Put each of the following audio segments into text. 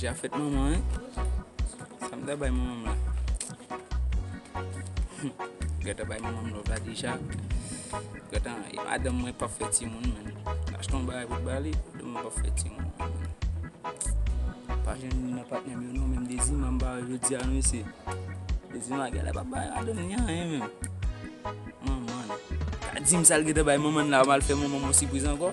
Dja fèt manman an. Sa m da bay manman m la. Gata bay manman m lòv la deja. Gata, e madanm mwen pa fè timoun men. Achte yon bagay pou bali. Dema pap fè timoun non. Pa jwenn youn nan patnèm yo non menm Dezima m pa wè jodi a non mesye. Dezima genlè pa bay madanm ni anyen menm. Manman l. Pa dim sal gentan bay manman l la mal fè manman m yon sipriz ankò.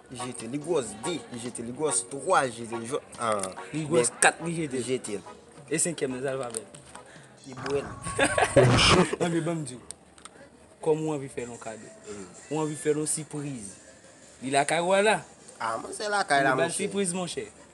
Li jete li gwòs 2, li jete li gwòs 3, li jete li jwòs 1. Li gwòs 4, li jete li jete l. E senkyèm nan, sa l fè avè l? Li bwè l. Anmye, ban m di w. Kòm ou anvi fè l yon kado. Ou anvi fè l yon sipriz. Li lakay ou a la. A, mwen se lakay la, monchè. Anmye, ba l sipriz, monchè.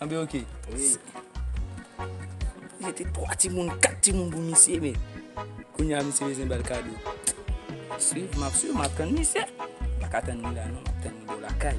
Anbe ok. Wi. Mete 3 timoun, 4 timoun pou misye men. Kounye a misye bezwen bèl kado. Map swiv, map swiv, map tann misye. Paka tann li la non, map tann li bò lakay.